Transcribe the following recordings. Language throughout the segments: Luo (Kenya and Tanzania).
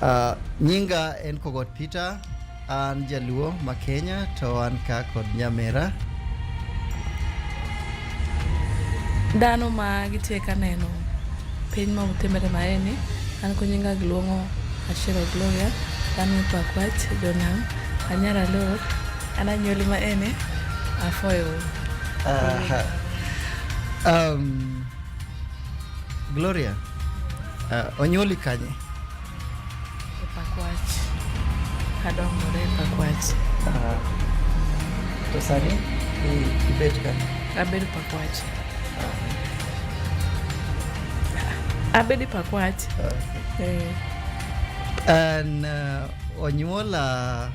Uh, nyinga en Kogot Peter, an jaluo ma Kenya to an ka kod nyamera. Dano ma gitye ka neno piny ma otimere maeni an ko nyinga giluongo Ashira Gloria, dano me Pakwach, Jonam, Anyara Lor, Ananyoli ma ene afoyo. Aha. Um, Gloria, uh, onyuoli kanye? E Pakwach. Adongore e Pakwach. Uh, to sani i- ibet kanye? Abed Pakwach. Abed e Pakwach. Uh, Eh. an uh, onyuola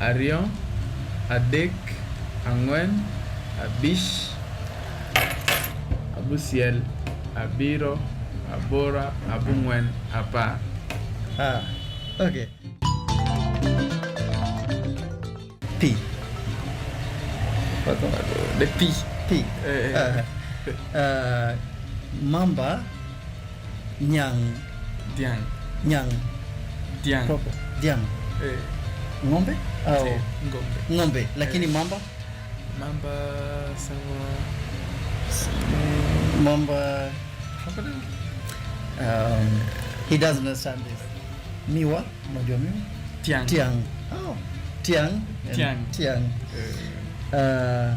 Ariyo, adek, ang'wen, abich, abusiel, abiro, abora, abung'wen, apar. Ah, okay. Pi. Wako wako. De pi. Pi. Eh, eh. Ah, ah, mamba Nyang. Diang. Nyang. Diang. Proper. Diang. Eh. Ng'ombe au si, ng'ombe. Ng'ombe lakini eh. mamba? Mamba sawa. Eh. Mamba crocodile. Um, he doesn't understand this. Miwa, unajua miwa? Tiang. Tiang. Oh. Tiang. Tiang. Tiang. Uh,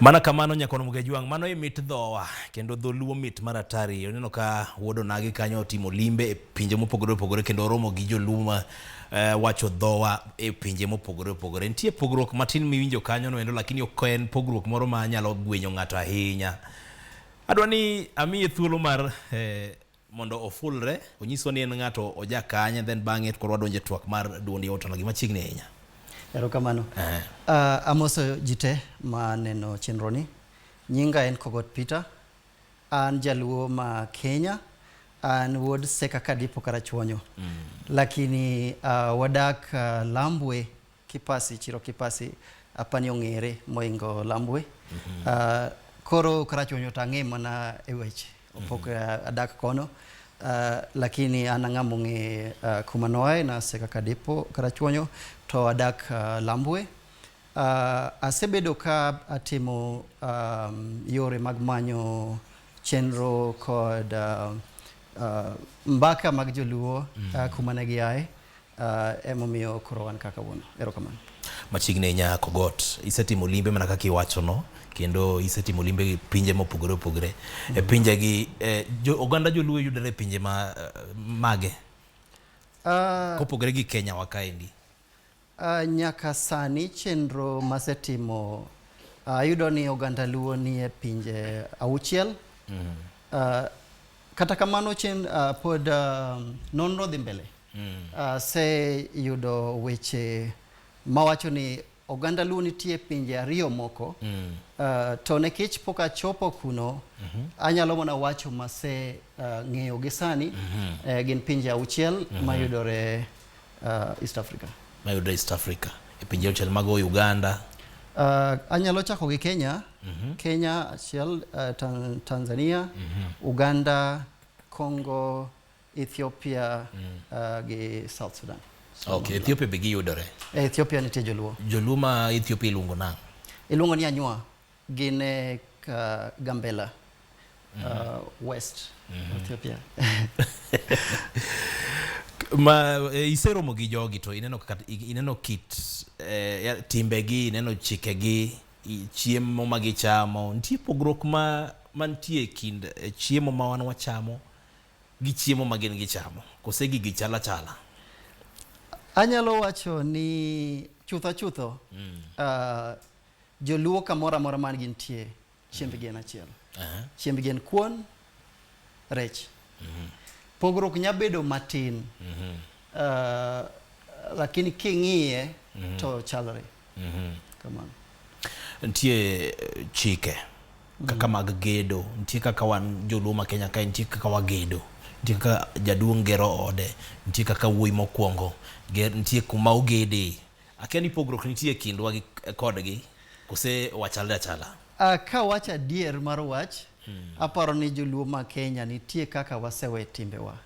Mana kamano nyakono Mugejwang', mano e mit dhowa kendo dholuo mit mar atari. Oneno ka wuod onagi kanyo otimo limbe e pinje mopogore opogore kendo oromo gi joluo ma eh, wacho dhowa e pinje mopogore opogore. Nitie pogruok matin miwinjo kanyo no endo, lakini ok en pogruok moro ma nyalo gwenyo ng'ato ahinya. Adwa ni amiye thuolo mar eh, mondo ofulre onyiswa ni en ng'ato oja kanye then bang'e koro wadonje twak mar duond yawuot Onagi machiegni ahinya. Erokamano. Eh. Ah, amoso ji te ma neno chenro ni. Nyinga en Kogot Peter. An jaluo ma Kenya. An wuod Seka Kadipo Karachuonyo. Lakini ah, wadak ah, Lambwe Kipasi, chiro Kipasi apani ong'ere moingo Lambwe. Mm -hmm. uh, koro Karachuonyo to ang'e mana e weche opok mm -hmm. adak kono uh, lakini an ang'a mong'e uh, kuma noae nase kaka depo Karachuonyo to adak uh, Lambwe uh, asebedo ka atimo um, yore mag manyo chenro kod uh, uh, mbaka mag joluo mm -hmm. uh, kuma ne giae uh, emomiyo koro wan kaka wuono erokamano machiegni nya kogot isetimo limbe mana kaka iwacho no kendo isetimo limbe gi pinje mopogore opogore mm -hmm. e pinje gi e, jo, oganda joluo yudore e pinje ma, eh, mage uh, kopogore gi kenya wakaendi uh, nyaka sani chenro masetimo ayudo uh, ni oganda luo nie pinje auchiel mm -hmm. uh, Kata kamano chen uh, ah, pod uh, nonro dhi mbele mm. uh, se yudo weche mawacho ni oganda Luo nitie pinje ariyo moko mm. uh, to nikech pok achopo kuno mm -hmm. anyalo mana wacho mase uh, ng'eyo gi sani mm -hmm. uh, gin pinje auchiel mm -hmm. mayudore Uh, East Africa. Mayudre East Africa. E pinje auchiel mago Uganda. Uh, anyalo chako gi Kenya. Mm -hmm. Kenya achiel, uh, tan Tanzania, mm -hmm. Uganda, Congo, Ethiopia mm. uh, gi South Sudan. So okay, Ethiopia be giyudore. E, Ethiopia nitie joluo. Joluo ma Ethiopia iluongo nang'? Iluongo ni Anywa. Gin e Gambela mm -hmm. uh, West mm -hmm. Ethiopia ma eh, iseromo gi jogi to ineno kaka ineno kit eh, timbegi ineno chikegi chiemo ma gichamo nitie pogruok ma mantie kind eh, chiemo ma wan wachamo gi chiemo ma gin gichamo kose gigi chala chala anyalo wacho ni chutho chutho mm. uh, Joluo kamoro amora man gintie chiembgi en achiel. Aha. Chiembgi en kuon, rech. Pogruok nya bedo matin. Ah, lakini king'iye to chalre. Kamano. nitie eh, chike kaka mag gedo nitie kaka wan joluo ma kenya kae nitie kaka wagedo nitie kaka jaduong' gero ode nitie kaka wuoyi mokwongo ger- nitie kuma ogede Akia ni pogruok nitie kindwa gi kodgi kose wachalre achala. Uh, ka wach adier mar wach hmm. aparo ni joluo ma Kenya nitie kaka wasewe timbewa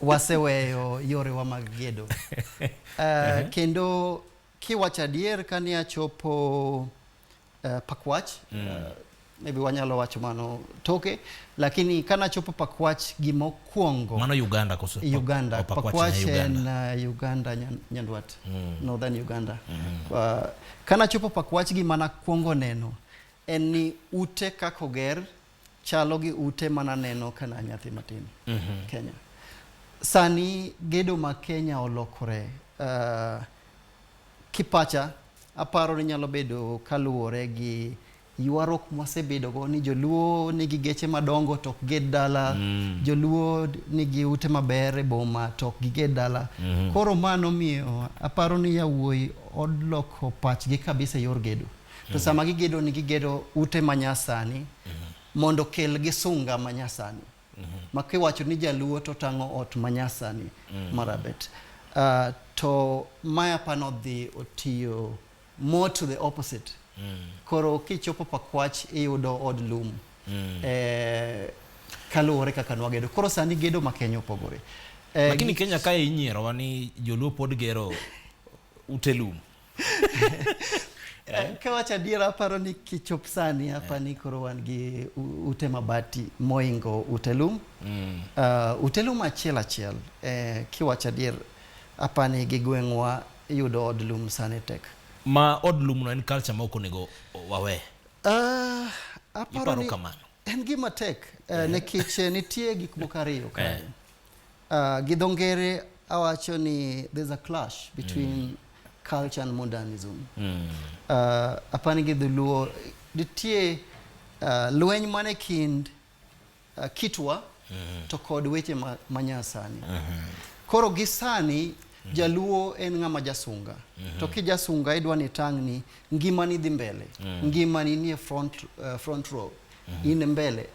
waseweyo yorewa mag gedo uh, kendo kiwacho adier kane achopo uh, pakwach mm. uh, maybe wanyalo wacho mano toke lakini kanachopo pakwach gimokwongo mano uganda koso uganda pakwach en uh, uganda nyandwat mm. northern uganda mm. uh, kanachopo pakwach gimana kwongo neno en ni ute kakoger chalo gi ute mana neno ka na nyathi matin mm -hmm. Kenya. Sani gedo ma Kenya olokore uh, kipacha aparo ni nyalo bedo kaluwore gi ywaruok mwasebedogo ni joluo nigi geche madongo to ok ged dala mm. joluo nigi ute maber e boma to ok giged dala mm -hmm. koro mano miyo aparo ni yawuoyi odloko pachgi kabisa e yor gedo To sama gigedo ni gigedo ute ma nyasani mondo kel gi sunga ma nyasani. Ma kiwacho ni jaluo to tang'o ot ma nyasani marabet. Uh, to maya pano dhi otiyo more to the opposite. Koro kichopo Pakwach iyudo od lum. Eh, kaluwore kaka nwagedo. Koro sani gedo ma Kenya opogore. Eh, Lakini Kenya kae inyierowa ni joluo pod gero ute lum. Eh, ka wacho adiera aparo ni kichop sani hapa eh. ni koro wan gi ute mabati moingo ute lum mm. uh, ute lum achiel achiel eh, kiwacho adier hapa ni gi gweng'wa yudo od lum sani tek ma od lum no en culture ma ok onego wawe uh, aparo ni en gima tek uh, eh. nikech nitie gik moko ariyo kae Uh, Gidongere awacho ni there's a clash between mm. culture and modernism. Mm. Uh, apani gi dholuo nitie uh, lweny mane kind uh, kitwa mm -hmm. to kod weche ma, manyasani mm -hmm. koro gi sani mm -hmm. jaluo en ng'ama jasunga mm -hmm. to kijasunga idwa ni tang' ni ngimani dhi mbele mm -hmm. ngimani nie front, uh, front row mm -hmm. in mbele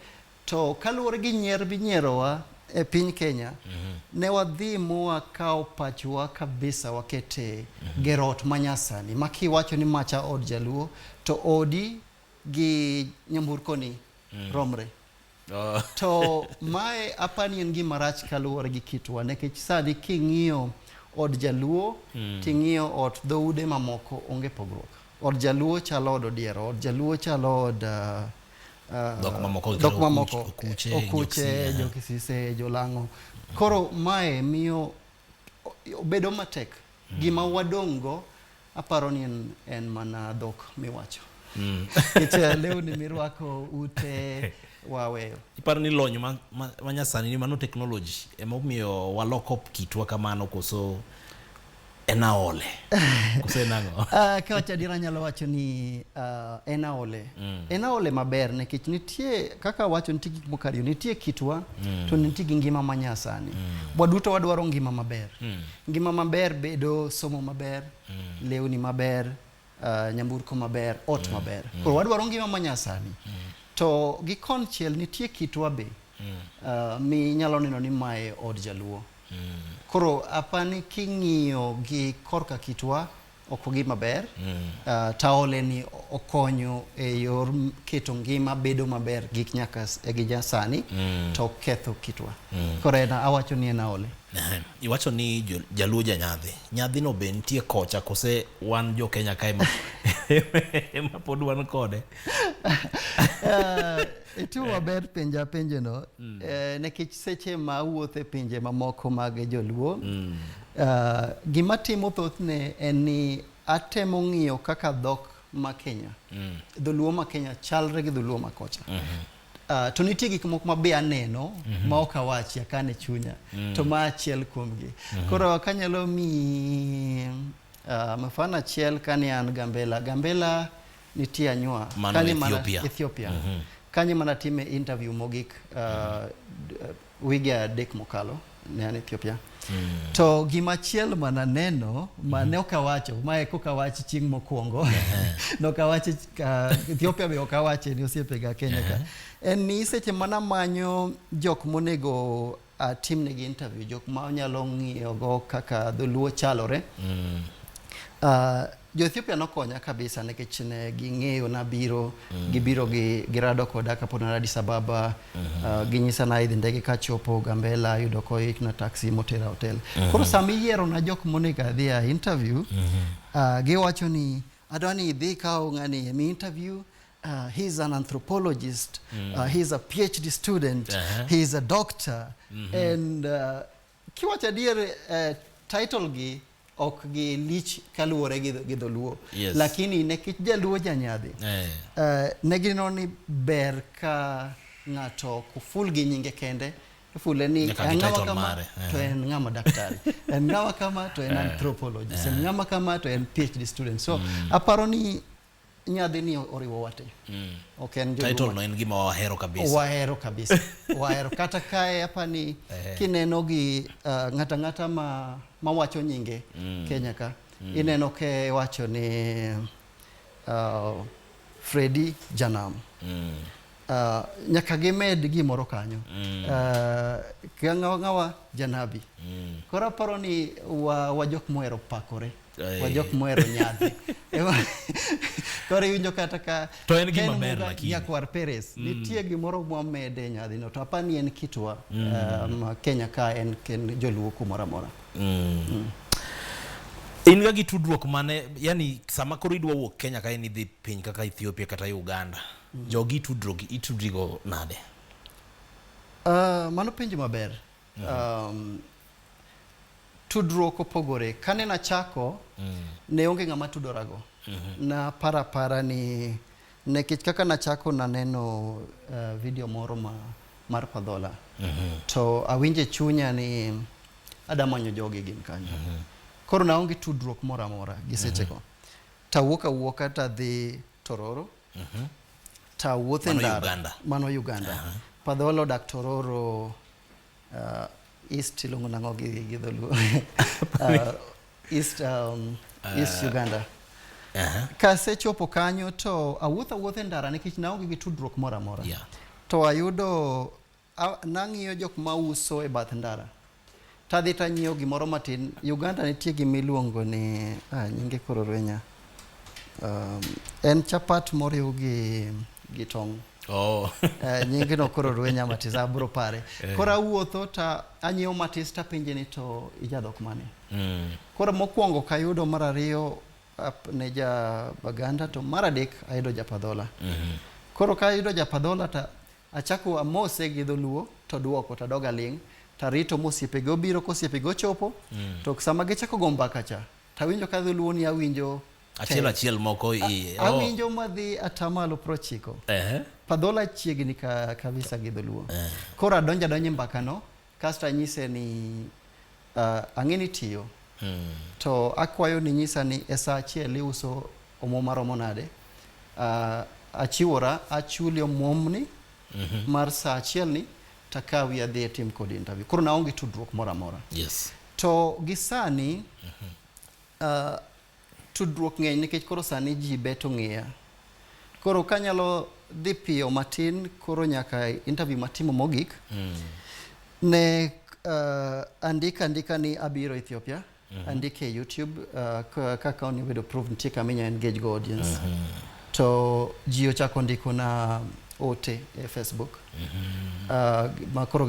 To kaluwore gi nyier minyierowa e piny Kenya, mm -hmm. ne wadhi mwakawo pachwa kabisa wakete mm -hmm. gero ot manyasani ma kiwacho ni macha od jaluo to odi gi nyamburkoni mm -hmm. romre. Oh. to mae apani en gima rach kaluwore gi kitwa nikech sani king'iyo od jaluo mm. ting'iyo ot dhoude mamoko onge pogruok od jaluo chalo od odiero od jaluo chalo od uh, dhok mamoko dhok mamoko okuche, okuche jokisise jolang'o koro mae miyo obedo matek mm. gima wadong' go aparo ni en, en mana dhok miwacho mm. kicha lewni mirwako ute waweyo iparo ni lony ma, ma, ma nyasani ni mano technology ema omiyo waloko kitwa kamano koso en aole kose nang'o uh, ah, ka wacha dira nyalo wacho ni uh, en aole mm. en aole maber nikech nitie kaka wacho nitie gik moko ariyo nitie kitwa mm. to nitie gi ngima ma nyasani mm. waduto wadwaro ngima maber mm. ngima maber bedo somo maber mm. lewni maber uh, nyamburko maber ot mm. maber mm. koro wadwaro ngima ma nyasani mm. to gi konchiel nitie kitwa be mm. uh, mi nyalo neno ni mae od jaluo Koro apani king'iyo gi korka kitwa ok gima ber. Ah, taole ni okonyo e yor m- keto ngima bedo maber gik nyaka s- e gi jasani to ok ketho kitwa. Koro en awacho ni en aole. Ehe. Iwacho ni jo- jaluo ja nyadhi. Nyadhino be nitie kocha kose wan jo Kenya kae ma ema pod wan kode. Itimo eh. maber penja penjono mm. eh, nikech seche ma awuotho e pinje mamoko mag joluo mm. uh, gima timo thothne en ni atemo ng'iyo kaka dhok ma Kenya mm. dholuo ma Kenya chalre gi dholuo ma kocha mm -hmm. Uh, to nitie gik moko mabe aneno mm -hmm. ma ok awachi akane chunya mm -hmm. to ma achiel kuomgi mm -hmm. koro kanyalo mi uh, mafano achiel kane an Gambela Gambela nitie anywa Mano kanye mana Ethiopia. Ethiopia kanye mana time interview mogik uh, d- uh, wige adek mokalo ne an Ethiopia to gima chiel mana neno ma ne ok awacho ma e koka wach chieng' mokwongo ne ok awache uh, Ethiopia be ok awache ni osiepega Kenya ka en ni seche mana manyo jok monego uh, timnegi interview jok ma onyalo ng'iyogo kaka dholuo chalore mm. uh, jo-ethiopia nokonya kabisa nikech ne ging'eyo nabiro mm. gibiro gi, girado koda kapod nara addis ababa mm -hmm. uh, ginyisa na idhi ndege kachopo gambela yudo koik na taxi motera hotel mm -hmm. koro sama iyiero na jok monego adhi a interview mm -hmm. uh, giwacho ni adwa ni idhi kawo ng'ani emi interview Uh, he is an anthropologist. Mm. Uh, he is a PhD student. Uh -huh. He is a doctor. Mm -hmm. And uh, kiwacha dier uh, title gi ok gi lich kaluwore gi dholuo yes. lakini nekech jaluo janyadhi eh. uh, ne gineno ni ber ka ng'ato ok ful gi nyinge kende fule ni eh. en ng'ama kama to en ng'ama daktari en ng'ama kama to en anthropologist en ng'ama kama to en phd student so mm. aparo ni nyadhi ni oriwo wate mm. ok en title no en gima wahero kabisa wahero kabisa wahero kata kae hapa ni kineno gi uh, ng'ata ng'ata ma mawacho nyinge mm. Kenya ka mm. ineno ke wacho ni uh, Freddy Janam mm. uh, nyaka gimed gimoro kanyo mm. uh, ng'awa janabi mm. koro aparo ni wa, wa jok mohero pakore wa jok mohero nyadhi koro iwinjo kata ka to en gima ber lakini nyakwar Perez mm. nitie gimoro mwamede e nyadhi no to apa ni en kitwa mm. um, Kenya ka en ken joluo kumoro amora mm. mm. in ga gi tudruok mane yani sama koro idwa wuok Kenya ka en idhi piny kaka Ethiopia kata Uganda mm. jogi tudruok itudrigo nade uh, mano penjo maber Um, tudruok opogore kane nachako mm. ne onge ng'ama tudorago mm -hmm. na para para ni nekech kaka nachako naneno uh, video moro ma, mar padhola mm -hmm. to awinje chunya ni adamanyo jogi gin kanyo mm -hmm. koro naonge tudruok moro amora gi sechego mm -hmm. tawuok awuoka tadhi tororo Mhm. Ta wuothe Mano ndara. Uganda. Mano Uganda. Aha. Padholo dak Tororo uh, East iluongo nang'o gi gi dholuo. Uh, East um, East Uganda. Aha. Kasechopo kanyo to awuotho awuotho e ndara nikech naonge gi tudruok moro amora. Yeah. To ayudo Nang'iyo jok ma uso e bath ndara tadhi tanyiewo gimoro matin. Uganda nitie gima iluongo ni ah, nyinge koro rwenya um, en chapat moriw gi gi tong' Oh. Eh, nyingi no koro rwenya matis abro pare eh. koro awuotho ta anyiewo matis tapenje ni to ijadhok mane mm. koro mokwongo kayudo mar ariyo ne ja baganda to mar adek ayudo japadhola mm -hmm. koro kayudo japadhola ta Achako amose gi dholuo to duoko to adog aling' to arito mosiepege obiro kosiepege ochopo mm. to sama gichako go mbaka cha to awinjo ka dholuo ni awinjo achiel achiel moko iye oh. awinjo madhi atamalo prochiko uh -huh. padhola chiegni ka, kabisa gi dholuo uh eh. -huh. koro adonjo adonjo mbakano Kasto anyise ni uh, ang'e ni tiyo mm. to akwayo ni nyisa ni e sa achiel iuso omuom maromo nade uh, achiwora achuli omuomni mm -hmm. mar sa achiel ni takawi adhi etim kod interview koro naonge tudruok moro amora yes. to gi sani mm -hmm. uh, Tudruok ng'eny nikech koro sani ji bet ong'eya. Koro kanyalo dhi piyo matin koro nyaka interview matimo mogik mm. ne uh, andika andika ni abiro Ethiopia mm -hmm. andika e YouTube uh, kaka onego bedo proof nitie kama inya engage go audience mm -hmm. to ji ochako ndiko na ote e Facebook mm -hmm. uh, ma koro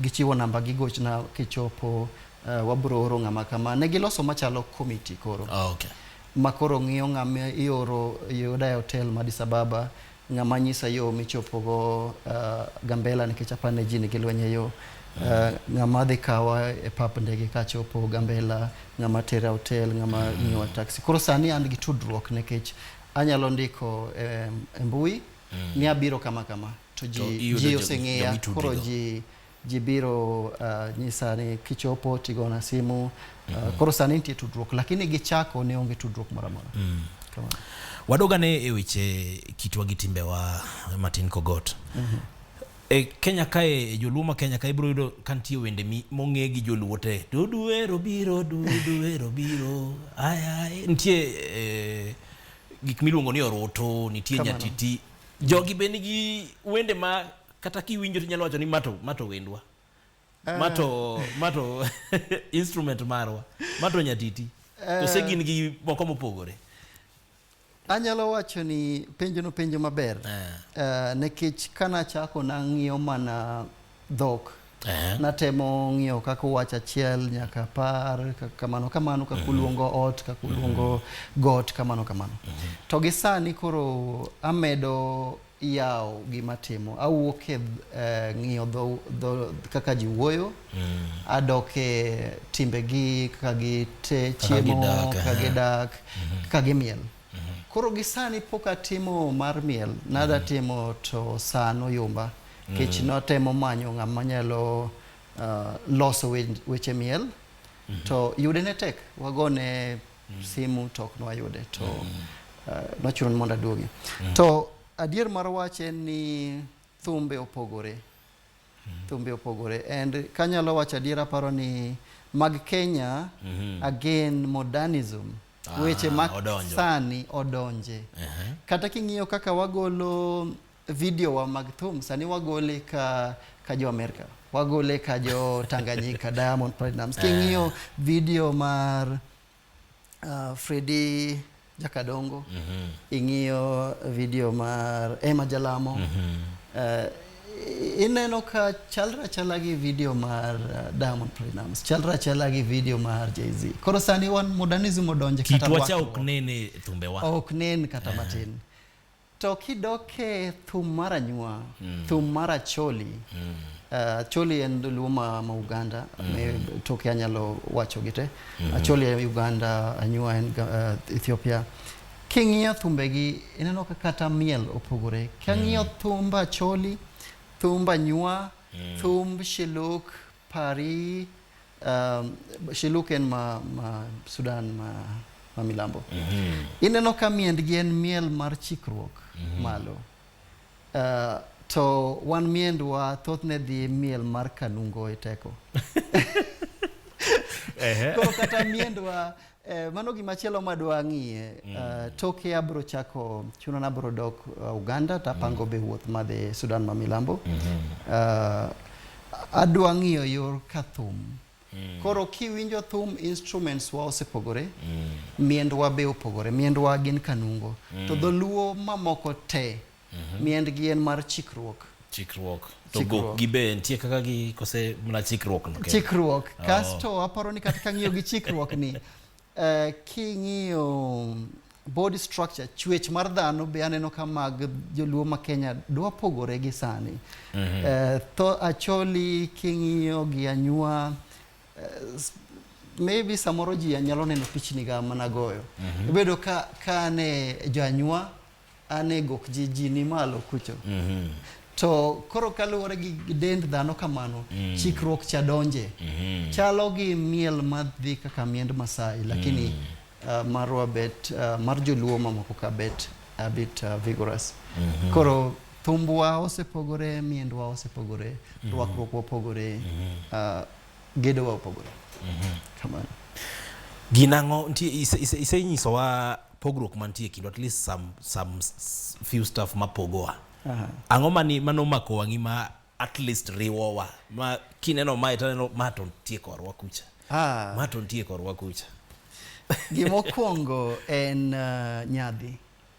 gichiwo namba gigochna kichopo Uh, wabro oro ng'ama kama. Ne giloso machalo komiti koro. Oh, okay. Ma koro ng'iyo ng'ama ioro yuda e hotel ma Addis Ababa, ng'ama nyisa yo michopogo uh, Gambela nikech apane ji nigi lweny e yo. Uh, ng'ama dhi kawa e pap ndege kachopo Gambela, ng'ama tera hotel, ng'ama mm. ng'iyowa taxi. Koro sani an gi tudruok nikech anyalo ndiko e, e mbui mm. ni abiro kama kama to ji, ji oseng'eya koro ji ji biro uh, nyisa ni kichopo tigona simu uh, mm -hmm. koro sani nitie tudruok lakini gichako ne onge tudruok moro amora mm. wadogane e weche kitwa gi timbewa Martin Kogot mm -hmm. e Kenya kae e joluo ma Kenya kae ibiro yudo ka nitie wende mong'e gi joluo te duduero biro duduero biro aya nitie e, gik miluongo ni oroto nitie nyatiti jogi be nigi wende ma kata kiwinjo to inyalo wacho ni mato mato wendwa eh. mato mato instrument marwa mato nyatiti kose eh. gin gi moko mopogore anyalo wacho ni penjo no penjo maber uh, nikech kana chako nang'iyo mana dhok uh-huh. natemo ng'iyo kaka wach achiel nyaka par kamano kamano kaka uh-huh. uluongo ot kaka uluongo uh-huh. got kamano kamano to gi sani koro amedo iyawo gima timo awuok e eh, ng'iyo dho, dho, kaka ji wuoyo mm. adok e timbegi kaka gite chiemo gidak, kaka eh. gidak mm-hmm. kaka gimiel mm-hmm. koro gi sani pok atimo mar miel nada mm-hmm. timo to sano yumba mm. kech mm. notemo manyo ng'ama nyalo uh, loso we, weche miel mm-hmm. to yude ne tek wagone mm. simu to ok nwayude to mm. uh, eh, nochuno ni mondo aduogi mm. to adier mar wach en ni thumbe opogore mm. thumbe opogore and kanyalo wacho adier aparo ni mag Kenya mm -hmm. again modernism ah, weche ma sani odonje uh -huh. kata king'iyo kaka wagolo Video wa mag thum sani wagole ka ka jo Amerika, wagole ka jo Tanganyika, Diamond Platnumz. Eh. King'iyo video mar uh, ah, Fredi Jakadongo, mm -hmm. ing'iyo video mar Emma Jalamo, mm -hmm. uh, ineno ka chalre achala gi video mar uh, Diamond Platnumz, chalre achala gi video mar Jay-Z. Koro sani wan modernism odonje kata kitwa cha ok nene thumbe wa. Ok nen kata eh. matin. To kidok e thum mar anyuwa, mm. thum mar acholi, mm. uh, acholi en dholuo ma, ma Uganda, mm. me, toke anyalo wacho gite. Mm. Acholi en Uganda, anyuwa en uh, Ethiopia. King'iyo thumbegi, ineno ka kata miel opogore. King'iyo mm. thumb acholi, thumb anyuwa, mm. thumb shiluk, pari, um, shiluken ma, ma Sudan ma, ma milambo mm -hmm. ineno ka miendgi en miel mar chikruok mm -hmm. malo uh, to wan miendwa thothne dhi miel mar kanungo e teko koro kata miendwa Eh, mano gima chielo ma dwa ng'iye mm. uh, toke abro chako chuno na abro dok uh, Uganda tapango mm. be wuoth madhi Sudan ma milambo mm -hmm. uh, adwa ng'iyo yor ka thum mm. koro kiwinjo thum instruments wa osepogore mm. miendwa be opogore miendwa gin kanungo mm. to dholuo mamoko te Mhm. Miendgi en mar chikruok. Chikruok. To Chikruok. gi be nitie kaka gi kose mna chikruok no. Chikruok. Oh. Kasto aparo ni kata kang'iyo gi chikruok ni eh, king'iyo body structure chwech mar dhano be aneno ka mag joluo ma Kenya dwa pogore gi sani. Mhm. Eh, tho acholi king'iyo gi anywa eh, s- maybe samoro ji nyalo neno pichni ga mana goyo. Mhm. Ibedo ka ka ne jo anywa An e gok ji ji ni malo kucho. Mm -hmm. To koro kaluwore gi dend dhano kamano, mm -hmm. chikruok cha donje. Mm -hmm. Chalo gi miel madhi kaka miend Masai, lakini mm -hmm. uh, marwa bet, uh, mar joluo mamoko ka bet a bit uh, vigorous. Mm -hmm. Koro thumbwa osepogore, miendwa osepogore, mm -hmm. rwakruokwa opogore, mm -hmm. uh, gedowa opogore. Mm -hmm. Kamano. Ginang'o, isenyisowa pogruok mantie kind at least some, some few stuff mapogowa uh-huh. ang'o mani manomako wang'i ma at least riwowa ma kineno mae taneno ma to nitie korwa kucha ah. ma to nitie korwa kucha gimokwongo en uh, nyadhi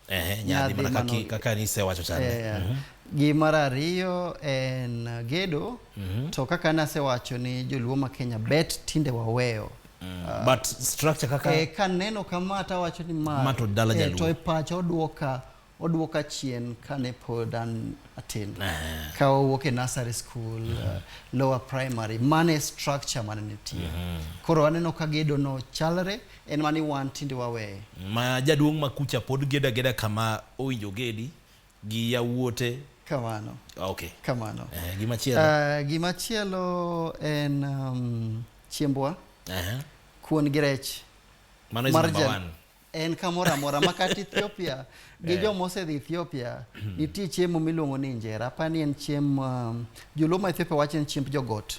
eh, nyadhi mana kaki, kaka nisewacho chande eh, mm -hmm. gi mar ariyo en uh, gedo mm -hmm. to kaka nasewacho ni joluo ma kenya bet tinde waweyo Mm. Uh, but structure kaka eh, ka neno kama hata wacho ni ma mato dala eh, jaluo to e pacha oduoka oduoka chien kane pod an atin uh, eh. ka owuok e nursery school mm -hmm. uh, lower primary mane structure mane nitie mm -hmm. koro aneno ka gedo no chalre en mani wan tinde wawe ma jaduong' ma kucha pod geda geda kama owinjo gedi gi yawuote kamano okay. kamano eh, gima chielo uh, gima chielo en um, chiembwa uh -huh. kuon gi rech mano is number one en kamoro amora makata Ethiopia gi eh. jo mosedhi Ethiopia hmm. nitie chiemo miluongo ni injera apani en chiemo um, joluo ma Ethiopia wacho ni chiemb jogot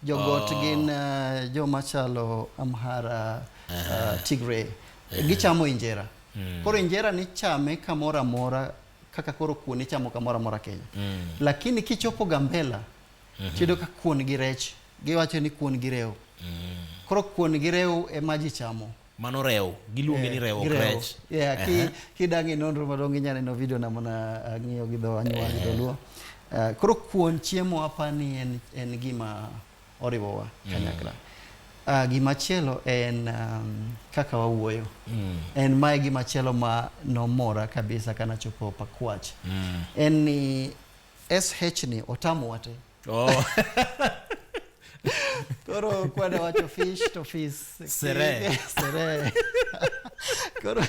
Jogot oh. gin uh, joma chalo Amhara, uh, uh-huh. Tigray. Uh-huh. Gichamo injera. Mm. Koro injera ni chame kamoro amora kaka koro kuon ichamo kamoro amora Kenya. Mm. Lakini kichopo Gambela, mm -hmm. tiyudo ka kuon gi rech, giwacho ni kuon gi rew. Mm. Koro kuon gi rew ema ji chamo. Mano rewo. Giluonge eh, ni rewo krech. Yeah, uh -huh. Kidangi nonro madongo inya neno video na mana uh, ng'iyo gi dho anyuwa gi dholuo. Uh, koro kuon chiemo apa ni en, en gima oriwowa mm. kanyakla. Mm. Uh, gima chielo en um, kaka wawuoyo. Mm. En mae gima chielo ma nomora kabisa kana chopo pakwach. Mm. En ni SH ni otamo wate. Oh. Koro kwade wacho fish to fish. Sere. Sere. Koro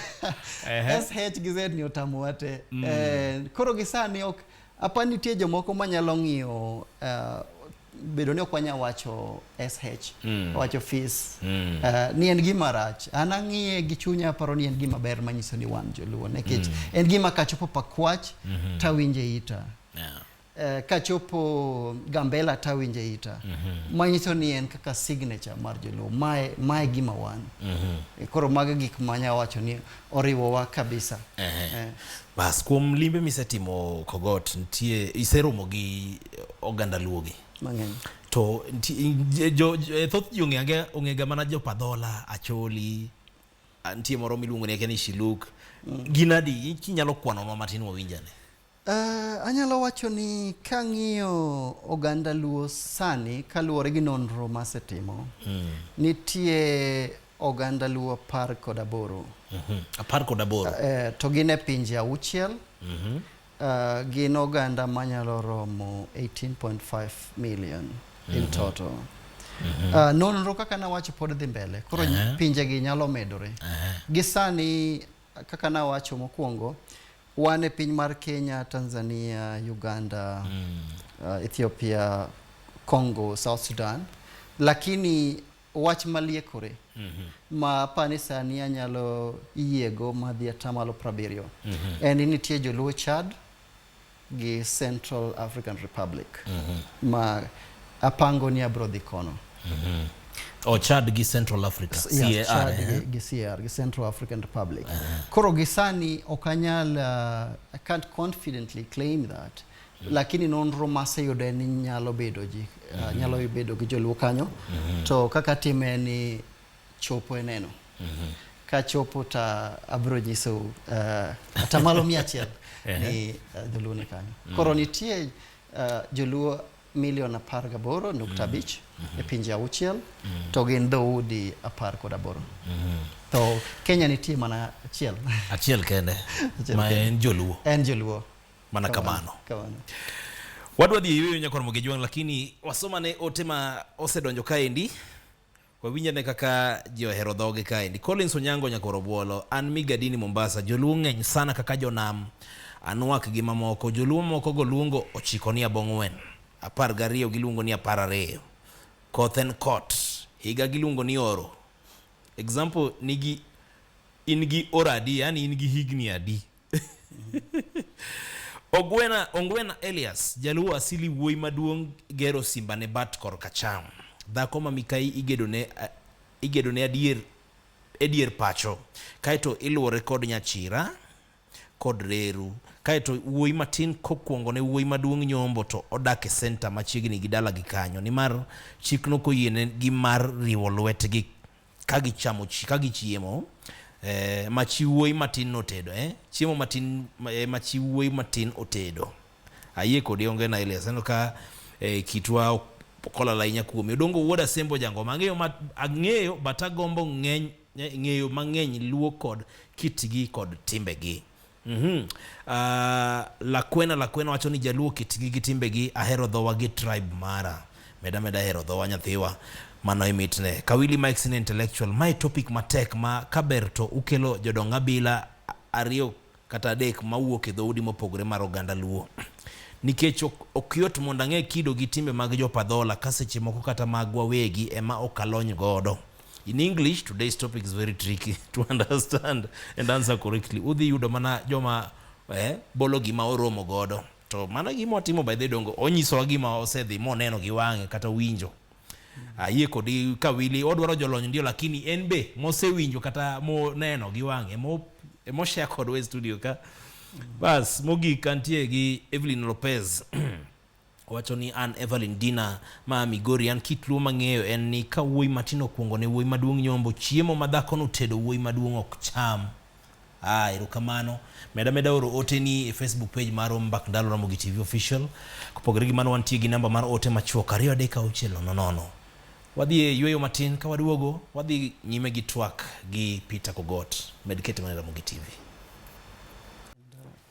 Ehe. SH gi Z ni otamo wate. Eh, koro gi sani ok apa nitie jomoko manyalo ng'iyo eh, bedo ni ok wanya wacho SH wacho fis Eh, ni en gima rach an ang'iye gi chunya aparo ni en gima ber manyiso ni wan joluo nikech en gima kachopo pakwach tawinje ita Yeah. Eh, kachopo Gambela tawinje ita mm -hmm. manyiso ni en kaka signature mar joluo mae, mae gima wan mm -hmm. koro mago gik manya wacho ni oriwowa kabisa eh. Eh. Bas, kuom limbe misetimo Kogot nitie iseromo gi oganda luogi mang'eny to jo, jo, thoth ji ong'ega ong'ega mana jopadhola acholi nitie moro miluongo ni Shiluk mm. ginadi kinyalo kwanonwa matin wawinjane Uh, anyalo wacho ni kang'iyo oganda luo sani kaluwore gi nonro masetimo mm. nitie oganda luo apar kod aboro mm -hmm. apar kod aboro uh, to gin e pinje auchiel mm -hmm. uh, gin oganda manyalo romo 18.5 million mm -hmm. in mhm. total Mm -hmm. Uh, nonro kaka nawacho pod dhi mbele koro uh -huh. pinjegi nyalo medore uh -huh. gi sani kaka nawacho mokwongo Wan e piny mar Kenya, Tanzania, Uganda, mm. uh, Ethiopia, Congo, South Sudan, lakini wach maliekore mm -hmm. ma apani sani anyalo yiego madhi atamalo prabiriyo mm -hmm. en ni nitie joluo Chad gi Central African Republic mm -hmm. ma Apango ni abro dhi kono. Mm -hmm. O oh, Chad gi Central Africa. Yes, CAR, Chad eh? gi, gi CAR, gi Central African Republic. Uh -huh. Koro gisani ok anyal, uh, I can't confidently claim that. Uh lakini nonro maseyude ni nyalo bedo ji mm -hmm. nyalo bedo gi joluo kanyo mm -hmm. to kaka time ni chopo e neno mm -hmm. ka chopo ta abro nyiso uh, eh, atamalo mia achiel ni uh, eh, dholuo ni kanyo mm -hmm. koro nitie uh, joluo Milion apar gaboro nukta mm. abich e pinje auchiel mm. to gin dhoudi apar kod aboro. Mm-hmm. To Kenya nitie mana achiel. Achiel kende ma en Joluo. En Joluo. Mana kamano. Kamano. Wadwa dhi yueyo nyakon Mogejwang' lakini wasoma ne ote ma osedonjo kaendi. Wawinjo ne kaka ji ohero dhoge kaendi. Collins Onyango nyakoro bwolo. An Migadini Mombasa. Joluo ng'eny sana kaka jonam. Anwak gi mamoko. Joluo moko go luongo ochiko ni abong'wen. Apar gariyo giluongo ni apar ariyo. Koth en kot. Higa giluongo ni oro. Example nigi in gi oro adi yani in gi higni adi. Ogwena, Ongwena Elias, jaluo asili wuoyi maduong' gero simba ne bat kor kacham. Dhako ma mikayi igedo ne, igedo ne adier, edier pacho. Kaeto iluore kod nyachira kod reru. Kaeto wuoyi matin kokuongo ne wuoyi maduong' nyombo to odak e senta machiegni gi dalagi kanyo. Nimar chik nokoyiene gi mar riwo lwetgi ka gichamo chi ka gichiemo eh, ma chi wuoyi matin notedo eh, chiemo matin eh, ma chi wuoyi matin otedo ayie kodi onge na ile seno ka eh, kitwa ok- okolala ahinya kuome odongo wuod asembo jangoma ang'eyo ma- ang'eyo but agombo ng'eny eh, ng'eyo mang'eny luo kod kitgi kod timbegi Mm -hmm. Uh, Lakwena Lakwena wacho ni jaluo kitgi gi timbegi ahero dhowa gi tribe mara meda meda ahero dhowa nyathiwa mano imitne Kawili Mike sin intellectual my topic matek ma kaber to ukelo jodong abila ariyo kata adek mawuok e dhoudi mopogore mar oganda luo nikech ok yot mondo ang'e kido gi timbe mag jopadhola ka seche moko kata mag wawegi ema ok alony godo In English, today's topic is very tricky to understand and answer correctly. Udhi yudo mana joma eh, bolo gima oromo godo. To mana gima otimo by the dongo, onyisowa gima osedhi moneno gi wang'e kata winjo. Ayie kodi ka wili odwaro jolony ndio, lakini en be mosewinjo kata moneno gi wang'e mo emoshare kodwa e studio ka. Bas, mogik antie gi Evelyn Lopez. Owacho ni an Evelyn Dina ma a Migori, an kit Luo mang'eyo en ni ka wuoyi matin okuongo ne wuoyi maduong' nyombo, chiemo ma dhakono otedo wuoyi maduong' ok cham. Ah, erokamano. Med ameda oro oteni e Facebook page marwa Mbak Ndalo Ramogi TV Official. Kopogore gi mano wantie gi namba mar ote machuok 23600. Wadhi e yueyo matin ka waduogo wadhi nyime gi twak gi Peter Kogot. Med kete mana e Ramogi TV.